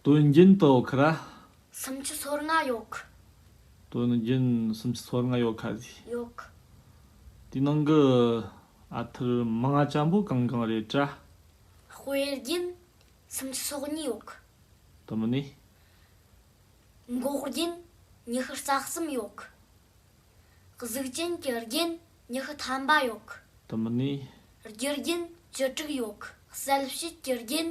དོན་རྒྱུན་དོ་ཁ་ར། སུམ་ཅུ་སོར་ལྔ་ཡོ་ཁ། དོན་རྒྱུན་སུམ་ཅུ་སོར་ལྔ་ཡོ་ཁ་ཟི། ཡོ་ཁ། དེའི་ནང་གི་ཨ་ཐར་མ་ལྔ་ལྕམ་པོ་གང་གང་རེད་བཀྲ། དཔེ་རྒྱུན་སུམ་ཅུ་སོག་གཉིས་ཡོ་ཁ། དུ་མི་ནི། འགོག་རྒྱུན་ཉི་ཤུ་རྩ་གསུམ་ཡོ་ཁ། གཟུགས་ཅན་གྱི་རྒྱུན་ཉི་ཤུ་ཐམ་པ་ཡོ་ཁ། དུ་མི་ནི། རྒྱུ་རྒྱུན་བཅུ་དྲུག་ཡོ་ཁ། གསལ་བྱེད་ཀྱི་རྒྱུན་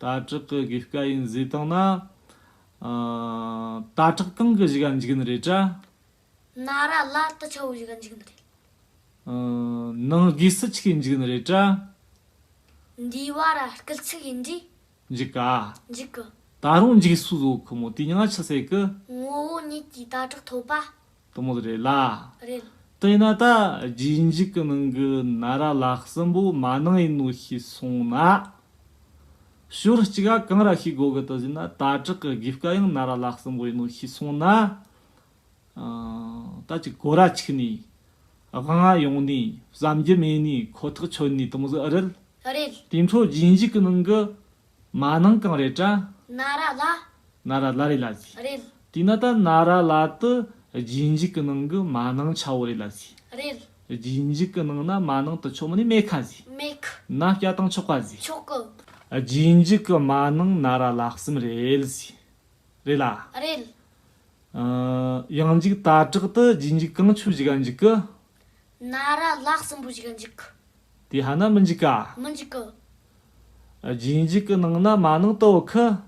ད་དྲག་གི་དགོས་དཀའ་ཡིན་བཟོས་བཏང་ན། ད་དྲག་སྟེང་གི་གཞི་ག་འཇིག་ནི་རེད་དྲ། ན་ར་ལ་ཏི་ཆ་བོ་གཞི་ག་འཇིག་ནི་རེད། ནང་དགོས་སི་ཆི་གི་འཇིག་ནི་རེད་དྲ། འདིའི་བ་ར་སྐིལ་ཚིག་ཡིན་དྲི། འཇིག་ག། འཇིག་གི། ད་རུང་འཇིག་སུ་བཟོ་གི་མོ་དུས་ཉང་ཆི་སེ་གི། ངོ་བོ་ཉིད་ཀྱི་ད་དྲག་ཐོབ་པ། གཏུམ་མོ་རེད་ལ། རེད། དེ་ན་ད་རྒྱུན་འཇུག་གི་ནང་གི་ན་ར་ལགས་སྲིན་པོ་མ་ནང་ཡིན་ནོ་ཞེས་གསུངས་ན། ཞོར་གཅིག་ག་གང་ར་ཤི་གོ་གི་དུ་བཞིན་ན་ད་དྲག་གི་དགེ་བཀའ་ཡང་ན་ར་ལགས་སྲིན་པོ་ཡིན་ནོ་ཞེས་གསུངས་ན། ད་ཅི་གོ་ར་ཆིག་ནས་དབང་ཨ་ཡོང་ནས་བསམ་རྒྱུ་མེད་ནས་ཁོ་ཐག་ཆོད་ནས་གཏུམ་མོ་རེད། རེད། དེ་འཕྲོ་རྒྱུན་འཇུག་གི་ནང་གི་མ་ནང་གང་རེད་དྲ། ན་ར་ལ། ན་ར་ལ་རེད་ལ་ཟི། རེད། དེས་ན་ད་ན་ར་ལ་དུ་རྗེས་འཇུག་གི་ནང་གི་མ་ནང་ཆ་བོ་རེད་ལ་ཟི། རེད། རྗེས་འཇུག་གི་ནང་ན་མ་ནང་དུ་ཆོག་མ་ནི་མེ་ཁ་ཟི། མེ་ཁ། ན་སྐྱ་དང་ཆོག་པ་ཟི། ཆོག་གི། རྗེས་འཇུག་གི་མ་ནང་ན་ར་ལ་གསུམ་རེད་ལ་ཟི། རེད་ལ། རེད། ཡང་འཇུག་ད་དྲག་ཏུ་རྗེས་འཇུག་གང་ཆོས་བཞི་ག་འཇུག་གི། ན་ར་ལགས་སྲིན་པོ་ཞིག་འཇིག་གི། དེ་ཧ་ན་མི་འཇིག་ག། མི་འཇིག་གི། རྗེས་འཇུག་གི་ནང་ན་མ་ནིང་དོ་ཁི།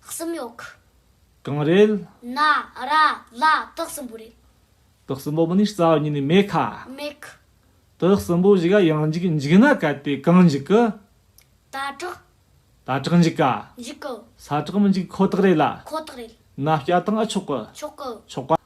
གསུམ་ཡོད་གི། གང་རེད། ན་ར་ལ་དག་སྲིན་པོ་རེད། དག་སྲིན་པོ་མི་ནི་རྩ་བ་ཉིད་ནས་མེད་ག། མེད་གི། དག་སྲིན་པོ་ཞིག་ཡང་འཇིག་འཇིག་ན་གལ་ཏེ་གང་འཇིག་གི། ད་དྲག། ད་དྲག་འཇིག་ག། འཇིག་གི། ས་དྲག་མི་འཇིག་ཁོ་ཐག་རེད་ལ། ཁོ་ཐག་རེད། ན་སྐྱ་ཐང་ཨ་ཆོག་གི། ཆོག་གི། ཆོག་ག།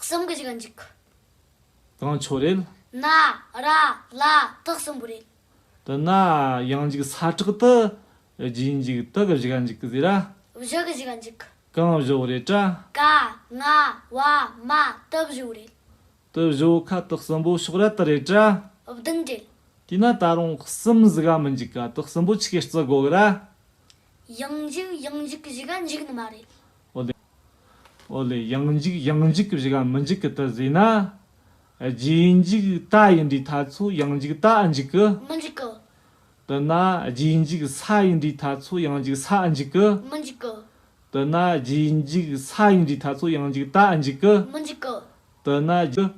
གསུམ་གྱི་གཞི་འཇིག། གང་ཕྱོགས་རེད། ན་ར་ལ་དག་གསུམ་པོ་རེད། དུ་ན་ཡང་འཇིག་ས་ཁྲག་ཏུ་རྒྱུ་འཇིག་དག་གི་གཞི་འཇིག་ཟེར་ར། བཞི་གི་གཞི་འཇིག། གང་བཞི་བོ་རེད་ཀྲ། ཀ་ང་བ་མ་དུ་བཞི་བོ་རེད། དུ་བཞི་བོ་ཁ་དག་གསུམ་པོ་ཕྱོགས་ར་དུ་རེད་ཀྲ། བདུན་རེད། དུ་ན་ད་རུང་གསུམ་གཟི་ག་མི་འཇིག་ཀ་དག་གསུམ་པོ་ཆི་ཀའི་རྩི་དགོ་གི་ར། ཡང་འཇིག་ཡང་འཇིག་གི་གཞི་འཇིག་ནི་མ་རེད། ཨོ་ལེ། ཡང་འཇིག་ཡང་འཇིག་གི་གཞིག་ཨ་མི་འཇིག་གི་དུ་ཟེ་ན། རྗེས་འཇིག་ད་ཡིན་འདྲའི་ཐ་ཚུ་ཡང་འཇིག་ད་ཨ་འཇིག་གི། མི་འཇིག་གི། དུ་ན། རྗེས་འཇིག་ས་ཡིན་འདྲའི་ཐ་ཚུ་ཡང་འཇིག་ས་ཨ་འཇིག་གི། མི་འཇིག་གི། དུ་ན། རྗེས་འཇིག་ས་ཡིན་འདྲའི་ཐ་ཚུ་ཡང་འཇིག་ད་ཨ་འཇིག་གི། མི་འཇིག་གི། དུ་ན།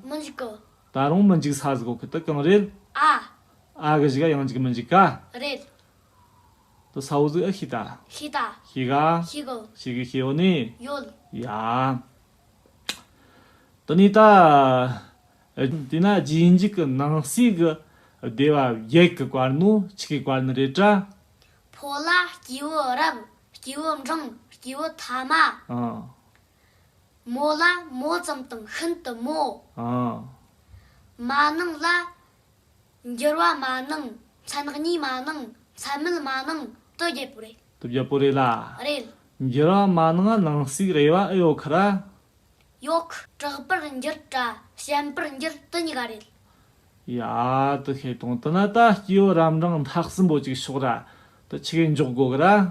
མི་འཇིག་གི། ད་རུང་མི་འཇིག་ས་ཟིག་གོ་གི་དུ་གང་རེད། ཨ། ཨ་གི་གཞིག་ཨ་ཡང་འཇིག་མི་འཇིག་ག། རེད། ཏུ་ས་འོག་གཟུགས་ཨ་ཤི་ཏཱ། ཤི་ཏཱ། ཤི་ག། ཤི་གོ། ཤི་གི་ཤི་འོག་ནི། ཡོལ། ཡང། ཏུ་ནི་ཏཱ། དེས་ན་རྗེས་འཇུག་གི་ནང་གསེས་ཀྱི་སྡེ་བ་བརྒྱད་ཀྱི་བར་ནོ་ཆིག་གི་བར་ནི་རེ་བྲ། ཕོ་ལ་སྐྱེས་བུ་རབ་སྐྱེས་བུ་འབྲིང་སྐྱེས་བུ་ཐ་མ། མོ་ལ་མོ་ཙམ་དང་ཤིན་ཏུ་མོ། མ་ནིང་ལ། འགྱུར་བ་མ་གནང། མཚན་གཉིས་མ་གནང། མཚན་མེད་མ་གནང། དོ་རྒྱལ་པོ་རེད། དོ་རྒྱལ་པོ་རེད་ལ། རེད། འགྱུར་བ་མ་གནང་ཨ་ནང་གསིག་རེད་བ་ཨེ་ཡོད་ཁ་ར། ཡོག། དྲག་པར་འགྱུར་དྲ་ཞན་པར་འགྱུར་དོ་གཉིས་ཀ་རེད། ཡ། དོ་ཤེས་དོང་དོ་ན་ད་སྐྱིའོ་རམ་འབྲང་འཐག་སིམ་པོ་ཅིག་ཤོག་ར། དོ་ཆི་གེ་འཇོག་དགོ་གི་ར།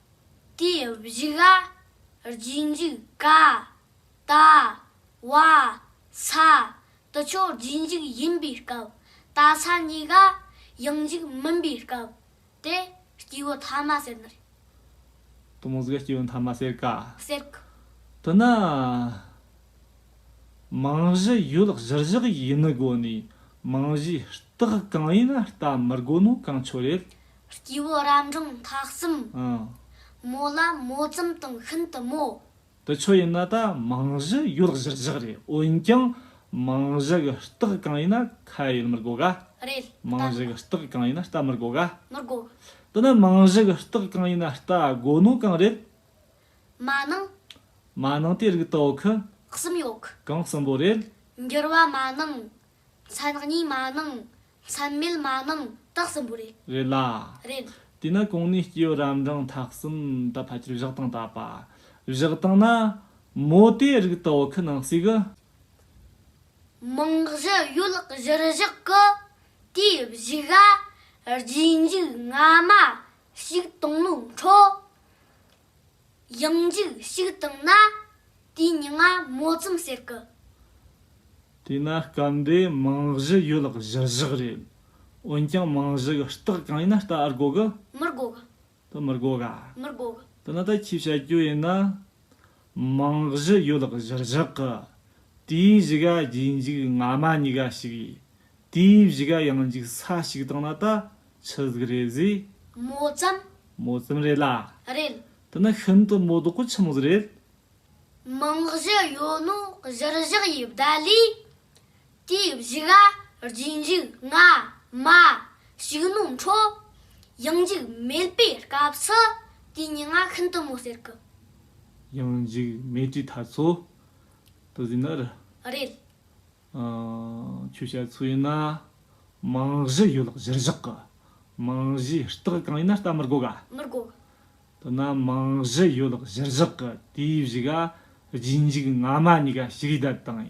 དེ་བཞི་ལ་རྗེས་འཇུག་ཀ། ད། བ། ས། དུ་ཆོས་རྗེས་འཇུག་ཡིན་པའི་སྐབས་ད་ས་གཉིས་ཀ་ཡང་འཇུག་མིན་པའི་སྐབས་དེ་སྐྱེས་བུ་ཐ་མ་ཟེར་ནི་རེད། དུ་མོ་ཟིག་སྐྱེས་བུ་ཐ་མ་ཟེར་ཀ། ཟེར་ཀ། དུ་ན། མིང་གཞི་ཡུལ་གཞི་བཞག་ཡིན་ནི་དགོས་ནི་མིང་གཞིའི་རྟགས་གང་ཡིན་རྟ་མི་དགོས་ནོ་གང་ཆོས་རེད། སྐྱེ་བོ་རབ་འབྲིང་མཐའ་གསུམ། མོ་ལ་མོ་ཙམ་དང་ཤིན་ཏུ་མོ། དེ་ཆོས་ཡིན་ན་ད་མིང་གཞི་ཡོད་གཞིར་བཞག་རེད་འོན་ཀྱང་མིང་གཞི་གི་རྟགས་གང་ཡིན་ན་ཁ་ཡོད་མི་དགོ་ག། རེད་མིང་གཞི་གི་རྟགས་གང་ཡིན་ན་རྟ་མི་དགོ་ག། མི་དགོ། དེ་ནི་མིང་གཞི་གི་རྟགས་གང་ཡིན་ན་རྟ་དགོ་ནོ་གང་རེད། མ་ནིང། མ་ནིང་དེ་རིགས་དོ་གི། གསུམ་ཡོད་གི། གང་གསུམ་པོ་རེད། འགྱུར་བ་མ་ནིང་མཚན་གཉིས་མ་གནང། མཚན་མེད་མ་གནང་རྟགས་གསུམ་པོ་རེད། རེད་ལ། རེད། དེས་ན་གོང་ནས་སྐྱེས་བུ་རབ་འབྲིང་ཐ་གསུམ་དུ་ཕལ་ཆེར་བཞག་སྟངས་དག་པ། བཞག་སྟངས་ན། མོ་དེའི་རིགས་དག་བོད་ཁུལ་ནང་གསེས་ཀྱི། རྨང་གཞི་གཡོ་ལག་གཞིར་བཞག་གི། དེའི་བཞི་ག། རྗེས་འཇུག་སྔ་མ། ཞིག་དང་ལུང་འཕྲོ། ཡང་འཇིགས་ཤིག་བཏང་ན་དེའི་མྱི་ང་མོ་ཙམ་ཟེར་གི། དེས་ན་སྐབས་འདིའི་རྨང་གཞི་ཡོད་ལག་གཞིར་བཞག་རེད། འོན་ཀྱང་རྨང་གཞི་གི་རྟགས་གང་ཡིན་ན་ལྟ་ཨར་དགོ་གི། མིར་དགོ་གི། དེ་མིར་དགོ་ག། མིར་དགོ་གི། དེ་ན་ད་ཁྱིས་བྱ་རྒྱུ་ཡིན་ན། རྨང་གཞི་ཡོད་ལག་གཞིར་བཞག་གི། དེའི་བཞི་ག་རྗེས་འཇིགས་སྔ་མ་མྱི་ག་ཞིག་ཡིན། དེའི་བཞི་ག་ཡང་འཇིགས་ས་ཞིག་བཏང་ན་ད། ཆི་ཟིག་རེད་ཟིག། མོ་ཙམ། མོ་ཙམ་རེད་ལ། རེད། དེ་ནི་ཤིན་ཏུ་མོ་དོག་གི་ཁྱིམ་ཟིག་རེད། མིང་གཞི་ཡོད་ནོ་གཞིར་བཞག་ཡི་བརྡ་ལས། དེའི་བཞི་ག་རྗེས་འཇུག་སྔ་མ་ཞིག་ནོ་འཕྲོ། ཡང་འཇུག་མེད་པའི་སྐབས་སུ་དེ་གཉིས་ང་ཤིན་ཏུ་མོ་ཟེར་གི། ཡང་འཇུག་མེད་དུས་ཐ་ཚོ། དུ་ཟིག་ནི་རི། རེད། ཁྱོད་བཤད་ཚོད་ཡིན་ན། རྨང་གཞི་ཡོད་ལགས་གཞིར་བཞག་གི། རྨང་གཞིའི་རྟགས་གང་ཡིན་ན་བལྟ་མི་དགོས་ག། མི་དགོས། དོ་ན་རྨང་གཞི་ཡོད་ལགས་གཞིར་བཞག་གི་དེའི་བཞི་ག་རྗེས་འཇུག་སྔ་མ་གཉིས་ཀ་ཞིག་བསྡད་དང་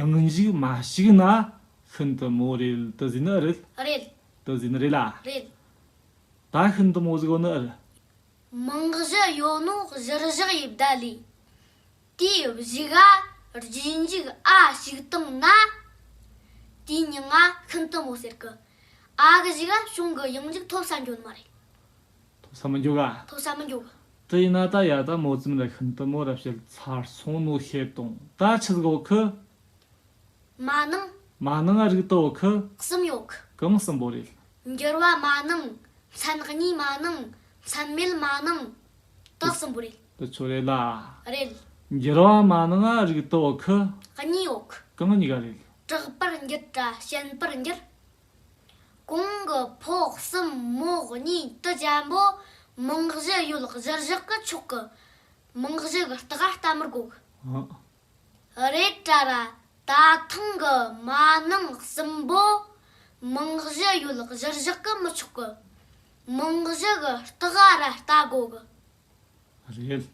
ཡང་འཇུག་མ་ཞིག་ན་ཤིན་ཏུ་མོ་རེད་ལྟ་བཟོས་ནི་ཨི་རེད། རེད། ལྟ་བཟོས་ནི་རེད་ལ། རེད། ད་ཤིན་ཏུ་མོ་བཟོས་གོ་ནི་ཨི་རེད། རྨང་གཞི་ཡོད་ནོ་གཞིར་བཞག་ཡིས་བསྡད་ལས། དེ་བཞི་ག་རྗེས་འཇུག་ཨ་ཞིག་བཏང་ན། དེའི་སྙིང་ང་ཤིན་ཏུ་མོ་ཟེར་གི། ཨ་གི་བཞི་ག་བྱུང་གི་ཡང་འཇུག་ཐོབ་ས་འགྱོ་ནི་མ་རེད། ཐོབ་ས་མི་འགྱོ་ག། ཐོབ་ས་མི་འགྱོ་གི། དེ་ཡིན་ན་ད་ཡ་ད་མོ་ཙམ་ལ་ཤིན་ཏུ་མོ་ར་བྱེད་ཚར་སོང་ནོ་ཤེས་དང་ད་ཆི་ཟིག་འོ་ཁི། མ་གནང། མ་གནང་ཨ་རིག་ཏུ་འོ་ཁི། གསུམ་ཡོ་གི། གང་གསུམ་པོ་རེད། འགྱུར་བ་མ་གནང། མཚན་གཉིས་མ་གནང། མཚན་མེད་མ་གནང། དག་གསུམ་པོ་རེད། དུ་ཆོ་རེ་ལ། རེད། འགྱུར་བ་མ་ནང་རིག་ཏུ་འོག་གི། གཉིས་འོག། གང་གཉིས་ཀ་རེད། དྲག་པར་འགྱུར་དྲ་ཞན་པར་འགྱུར། གོང་གི་ཕོག་གསུམ་མོག་གཉིས་དུ་བྱམས་པོ་མིང་གཞི་ཡོད་གཞིར་བཞག་གི་ཕྱོགས་ཀྱི་མིང་གཞི་གི་རྟགས་བལྟ་མི་དགོས། རེད་དྲ་ར་ད་ཐེངས་ཀྱི་མ་ནང་གསུམ་པོ་མིང་གཞི་ཡོད་གཞིར་བཞག་གི་མི་ཆོག་གི་མིང་གཞི་གི་རྟགས་ར་བལྟ་དགོས། རེད་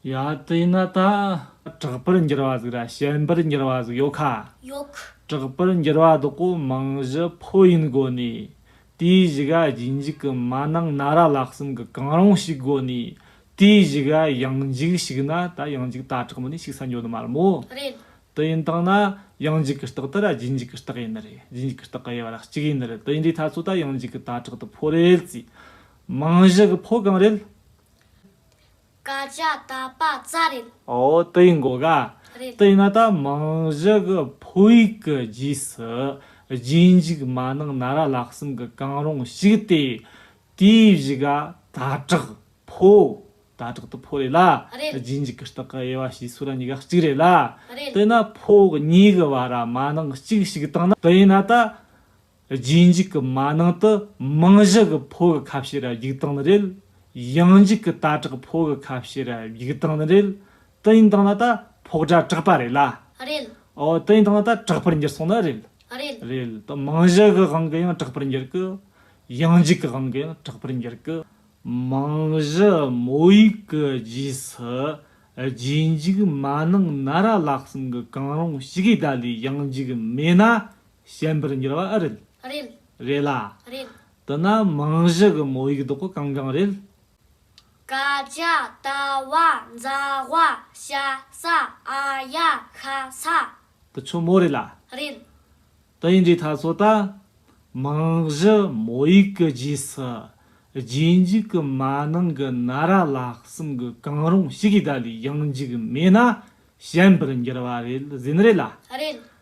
ཡ། དེ་ན་ད་དྲག་པར་འགྱུར་བ་ཟིག་ར་ཞན་པར་འགྱུར་བ་ཟིག་ཡོད་ཁ། ཡོད་ཁ། དྲག་པར་འགྱུར་བ་དོག་པོ་མང་བཞི་ཕོ་ཡིན་དགོ་ནས། དེའི་བཞི་ག་རྒྱུན་འཇུག་གི་མ་ནང་ན་ར་ལག་གསུམ་གི་གང་རུང་ཞིག་དགོ་ནས། དེའི་བཞི་ག་ཡང་འཇུག་ཞིག་ན་ད་ཡང་འཇུག་ད་དྲག་མི་ནས་ཞིག་ས་འགྱོ་ནི་མ་རུ་མོ། རེད། དེ་ཡིན་དང་ན་ཡང་འཇུག་གི་རྟགས་དེ་ར་རྒྱུན་འཇུག་གི་རྟགས་ཡིན་ནི་རེད་རྒྱུན་འཇུག་གི་རྟགས་ག་ཡའི་བ་ར་གཅིག་ཡིན་ནི་རེད་དེ་འདྲའི་ཐ་ཚོ་ད་ཡང་འཇུག་གི་ད་དྲག་དུ་ཕོ་རེད་ཟིག། རྨང་གཞི་གི་ཕོ་གང་རེད། བཀའ་རྒྱ་ད་པ་རྩ་རེད། འོ་དེ་ཡིན་དགོས་ག། རེད། དེ་ཡིན་ན་ད་རྨང་གཞི་གི་ཕོ་ཡིག་གི་རྗེས་སུ་རྗེས་འཇུག་མ་གནང་ན་ར་ལག་གསུམ་གི་གང་རུང་ཞིག་སྟེ། དེའི་གཞི་ག་ད་དྲག་ཕོ། ད་དྲག་ཏུ་ཕོ་རེད་ལ། རེད། རྗེས་འཇུག་གི་རྟགས་ཀྱི་དབྱེ་བ་ཞེས་སུ་ར་གཉིས་ཀ་གཅིག་རེད་ལ། རེད། དེ་ན་ཕོ་གཉིས་ཀྱི་བར་ར་མ་ནག་གཅིག་ཞིག་བཏང་ན་དེ་ཡིན་ན་ད། རྗེས་འཇུག་གི་མ་ནང་དུ་རྨང་གཞི་གི་ཕོ་གི་ཁ་བཤད་ར་རྒྱུག་སྟངས་ནི་རེད། ཡང་འཇུག་གི་ད་དྲག་ཕོ་གི་ཁ་བཤད་ར་རྒྱུག་སྟངས་ནི་རེད། དུ་ཡིན་སྟངས་ན་ད་ཕོག་སྒྲ་དྲག་པ་རེད་ལ། རེད། ཨོ། དུ་ཡིན་སྟངས་ན་ད་དྲག་པར་འགྱུར་སོང་ན་རེད། རེད། རེད། དུ་རྨང་གཞི་གི་དབང་གིས་ཡང་དྲག་པར་འགྱུར་གི། ཡང་འཇུག་གི་དབང་གིས་ཡང་དྲག་པར་འགྱུར་གི། རྨང་གཞི་མོ་ཡིག་གི་རྗེས་སུ་རྗེས་འཇུག་མ་ནང་ན་ར་ལག་གསུམ་གི་གང་རུང་ཞིག་གི་ཟླ་ལས་ཡང་འཇུག་མེད་ན་ཞན་པར་འགྱུར་བ་ཨེ་རེད། རེད། རེད་ལ། རེད། དེ་ན་རྨང་གཞི་གི་མོ་ཡིག་རྡོག་གང་གང་རེད། ཀ་ཅའ་ཏ་བ་མཛའ་བ་ཤ་ས་ཨ་ཡ་ཤ་ས། དེ་ཆོ་མོ་རེད་ལ། རེད། དེ་ཡིན་དུས་ད་གཟོད་ད། རྨང་གཞི་མོ་ཡིག་གི་རྗེས་སུ། རྗེས་འཇུག་གི་མ་ནིང་གི་ན་ར་ལག་གསུམ་གི་གང་རུང་ཞིག་གིས་ད་ལོའི་ཡང་འཇུག་མེད་ན་ཞན་པར་འགྱུར་བ་རེད་ཟིན་རེད་ལ། རེད།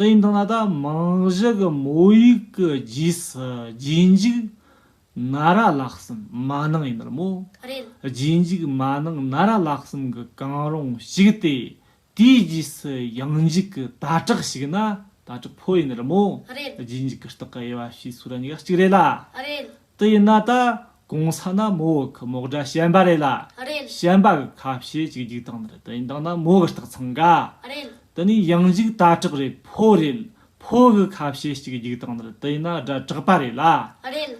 སྟེང་དང་ལ་དྭགས་མིང་གཞི་གི་མོ་ཡིག་གི་རྗེས་སུ་རྗེས་འཇུག་ན་ར་ལག་གསུམ་མ་ནིང་ཡིན་ནོ། རྗེས་འཇུག་མ་ནིང་ན་ར་ལག་གསུམ་གི་གང་རུང་ཞིག་སྟེ་དེའི་རྗེས་སུ་ཡང་འཇུག་གི་ད་དྲག་ཞིག་ན་ད་དྲག་ཕོ་ཡིན་ནོ། རྗེས་འཇུག་གི་རྟགས་ཀྱི་དབྱེ་བ་ཞེས་སུ་ར་གཉིས་ཀ་གཅིག་རེད་ལ། དེ་ཡིན་ན་ད་གོང་ས་ན་མོ་བོ་གི་མོག་སྒྲ་ཞན་པ་རེད་ལ། རེད། ཞན་པ་གི་ཁ་བཤད་ཅིག་རྒྱུག་སྟངས་འདིར་དེ་ཡིན་དང་ན་མོ་གི་རྟགས་འཚང་ག། རེད། དེ་ནས་ཡང་རྒྱུག་ད་དྲག་རེད་ཕོ་རེད་ཕོ་གི་ཁ་བཤད་ཅིག་རྒྱུག་སྟངས་འདིར་དེ་ཡིན་ན་སྒྲ་དྲག་པ་རེད་ལ། རེད།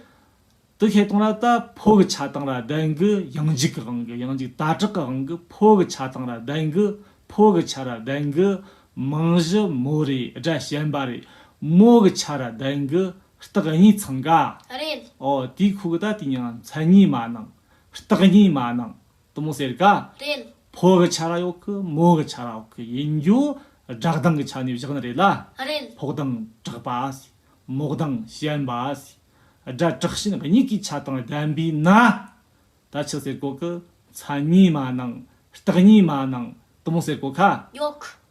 དེ་ཁེ་སྟངས་ལ་ད་ཕོ་གི་ཆ་དང་ར་བདེན་གི་ཡང་རྒྱུག་གི་དབང་གི་ཡང་རྒྱུག་ད་དྲག་གི་དབང་གི་ཕོ་གི་ཆ་དང་ར་བདེན་གི་ཕོ་གི་ཆ་ར་བདེན་གི་མིང་གཞི་མོ་རེད་སྒྲ་ཞན་པ་རེད་མོ་གི་ཆ་ར་བདེན་གི་རྟགས་གཉིས་ཚང་ག། རེད། ཨོ་དེའི་ཁུག་རྟ་དེ་ཉིད་མཚན་ཉིད་མ་གནང། རྟགས་ཉིད་མ་གནང། དུ་མོ་ཟེར་ག། རེད། ཕོ་གི་ཆ་ར་ཡོག་གི་མོ་གི་ཆ་ར་ཡོག་གི་ཡིན་རྒྱུ་སྦྲགས་གདང་གི་ཆ་ནས་བཞག་ན་རེད་ལ། རེད། ཕོག་གདང་བྲག་པ། མོག་གདང་ཞན་པ། སྒྲ་དྲག་ཞན་གཉིས་ཀའི་ཆ་དང་ལྡན་པས་ན། ད་ཆུ་ཟེར་གོ་གི་མཚན་ཉིད་མ་གནང། རྟགས་ཉིད་མ་གནང། དུ་མོ་ཟེར་གོ་ག། ཡོག།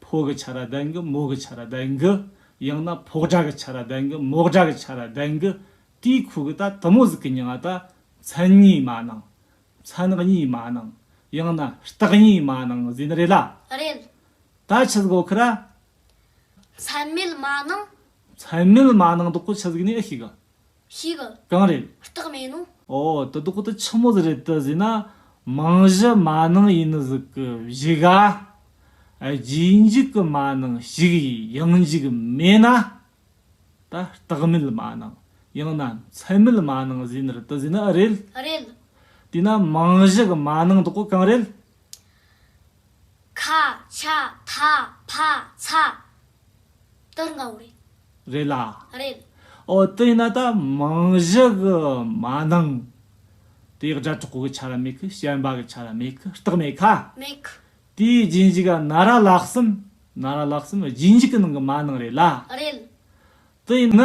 ཕོ་གི་ཆ་ར་དག་གི་མོ་གི་ཆ་ར་དག་གི། ཡང་ན་ཕོག་དགྲ་གི་ཆ་ར་དག་གི་མོག་དགྲ་གི་ཆ་ར་དག་གི། དེའི་ཁུ་གུ་ད་དུ་མོ་ཟིག་གི་ཉི་ང་ད་མཚན་གཉིས་མ་ནང། མཚན་གཉིས་མ་ནང། ཡང་ན་རྟགས་གཉིས་མ་ནང་བཟོས་ནི་རེད་ལ། རེད། ད་ཆི་ཟིག་འོ་ཁི་ར། མཚན་མེད་མ་ནང། མཚན་མེད་མ་ནང་འདོག་གི་ཆི་ཟིག་ནི་ཨི་ཤི་གི། ཞིག་གམ། གང་རེད། རྟགས་མེད་ནོ། ཨོ་དེ་དོག་དེ་ཆི་མོ་ཟི་རེད་དེ་ཟིན་ན་མང་བཞི་མ་ནིང་ཡིན་ནི་ཟིག་གི་བཞི་ག། རྗེས་འཇུག་གི་མ་ནིང་ཞིག་ཡིན་ཡང་འཇུག་མེད་ན། ད་རྟགས་མེད་མ་ནིང་ཡང་ན་མཚན་མེད་མ་ནིང་ཟིན་ནི་རེད་དེ་ཟིན་ན་ཨི་རེད། ཨི་རེད། དེས་ན་མང་བཞི་གི་མ་ནིང་དོག་གང་རེད། ཁ། ཆ། ཐ། ཕ། ཚ། ལྟར་ང་བོ་རེད། རེད་ལ། རེད། ཨོ་དེས་ན་ད་མིང་གཞི་གི་མ་ནིང། དེའི་སྒྲ་གྲོགས་པོ་གི་ཆ་ལ་མེད་ཁི་ཞེན་པ་གི་ཆ་ལ་མེད་ཁི་རྟགས་མེད་ཁ། མེད་ཁི། དེའི་རྗེས་འཇུག་ག་ན་ར་ལགས་སམ། ན་ར་ལགས་སམ་རྗེས་འཇུག་གི་ནང་གི་མ་ནིང་རེད་ལ། རེད། དེས་ན།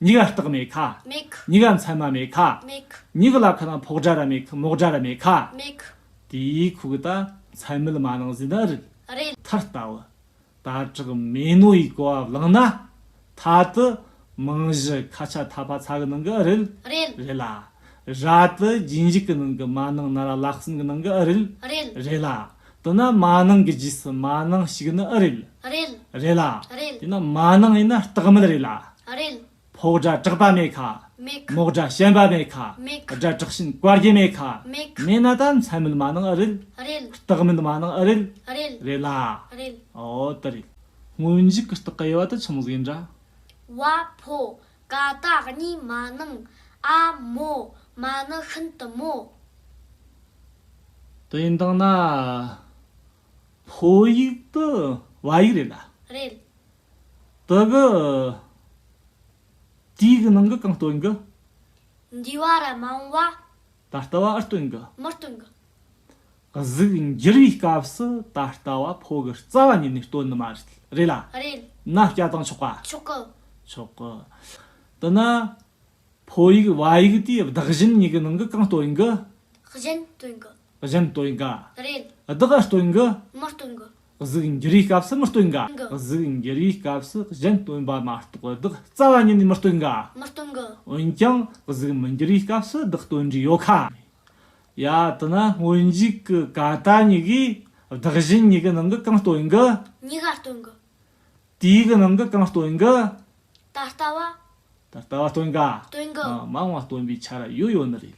མྱི་ག་རྟགས་མེད་ཁ། མེད་ཁི། མྱི་ག་མཚན་མ་མེད་ཁ། མེད་ཁི། མྱི་གི་ལ་ཁ་ན་ཕོག་སྒྲ་ར་མེད་ཁི་མོག་སྒྲ་ར་མེད་ཁ། མེད་ཁི། དེའི་ཁུག་གི་ད་མཚན་མེད་མ་ནིང་ཟིན་ད་རིག། རེད། མཐར་ལྟ་བུ། དྭ་ཕྲུག་མས་ནོར་ཡིག་གོ་བ་བླངས་ན། ད་དུ་རྨང་གཞི་ཁ་ཆ་ཐག་པ་ཚ་གི་ནང་གི་རིལ། རེད། རེད་ལ། ར་དུ་རྒྱུན་འཇུག་གི་ནང་གི་མ་ནིང་ན་ར་ལག་སོན་གི་ནང་གི་རིལ། རེད། རེད་ལ། དུ་ན་མ་ནིང་གི་རྗེས་སུ་མ་ནིང་ཞིག་ནི་རིལ། རེད། རེད་ལ། རེད། དེ་ན་མ་ནིང་ཡིན་ན་སྟག་མལ་རེད་ལ། རེད། ཕོག་སྒྲ་བྲག་པ་མེད་ཁ། མོག་སྒྲ་ཞན་པ་མེད་ཁ། སྒྲ་དྲག་ཤིན་བཀའ་རྒྱ་མེད་ཁ། མེད་ན་ད་མཚན་མིན་མ་ནང་ཨི་རེད། རྟགས་མིན་མ་ནང་ཨི་རེད། རེད་ལ། འོ་དེ་རེད། སྔོན་འཇུག་གི་རྟགས་དབྱེ་བ་དེ་ཆུང་ཟིག་འདྲ། བ་ཕོ། ཀ་རྟགས་གཉིས་མ་ནང་ཨ། མོ། མ་ནི་ཤིན་ཏུ་མོ། དེ་ཡིན་དང་ན། ཕོ་ཡིག་དེ་བ་ཡིག་རེད་ལ། རེད། དུ་གི། དུས་གི་ནང་གི་གང་སྟོན་གི། འདུས་བ་ར་མ་འོངས་བ། ད་ལྟ་བ་ཨི་སྟོན་གི། མི་སྟོན་གི། གཟུགས་འགྱུར་བའི་སྐབས་སུ་ད་ལྟ་བ་ཕོ་གི་རྩ་བ་ཉིད་ནས་སྟོན་ནི་མ་རེད་ལ། རེད། ན་སྐྱ་དང་མཆོག་པ། མཆོག་གི། མཆོག་གི། དུ་ན། ཕོ་ཡིག་བ་ཡིག་དེ་བདག་གཞན་གཉིས་ཀྱི་ནང་གི་གང་སྟོན་གི། གཞན་སྟོན་གི། གཞན་སྟོན་གི། རེད། བདག་ཨི་སྟོན་གི། མི་སྟོན་གི། གཟུགས་འགྱུར་བའི་སྐབས་སུ་མི་སྟོན་གི། གཟུགས་འགྱུར་བའི་སྐབས་སུ་གཞན་སྟོན་པ་མ་གཏོགས་བདག་རྩ་བ་ཉིད་ནས་མི་སྟོན་གི། འོན་ཀྱང་གཟུགས་མི་འགྱུར་བའི་སྐབས་སུ་བདག་སྟོན་རྒྱུ་ཡོད་ཁ། ཡ་དེ་ན་སྔོན་འཇུག་གི་ཀ་ཏ་གཉིས་ཀས་བདག་གཞན་གཉིས་ཀྱི་ནང་གི་གང་སྟོན་གི། གཉིས་ཀ་སྟོན་གི། དུས་ཀྱི་ནང་གི་གང་སྟོན་གི། ད་ལྟ་བ། ད་ལྟ་བ་སྟོན་གི། སྟོན་གི། མ་འོངས་བ་སྟོན་པའི་ཆ་ལ་ཡོད་ཡོད་ནི་རེད།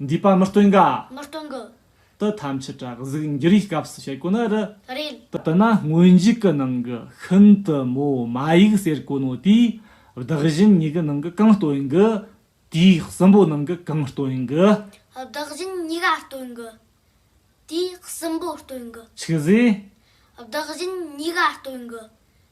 འདུས་པ་མི་སྟོན་དགའ། མི་སྟོན་དགུ། དུ་ཐམས་ཅད་དྲག་གཟུགས་འགྱུར་ཡིག་སྐབས་སུ་བྱེད་དགོས་ན་རི། རིལ། དུ་ན་སྔོན་འཇུག་གི་ནང་གི་ཤིན་ཏུ་མོ་མ་ཡིག་ཟེར་དཀོན་ནོ་དེའི་བདག་བཞིན་ཉིད་ཀྱི་ནང་གི་གང་སྟོན་དགུ། དེའི་གསུམ་པོ་ནང་གི་གང་སྟོན་དགུ། བདག་བཞིན་ཉིད་ག་སྟོན་དགུ། དེའི་གསུམ་པོ་སྟོན་དགུ། ཆུ་ཟས། བདག་བཞིན་ཉིད་ག་སྟོན་དགུ།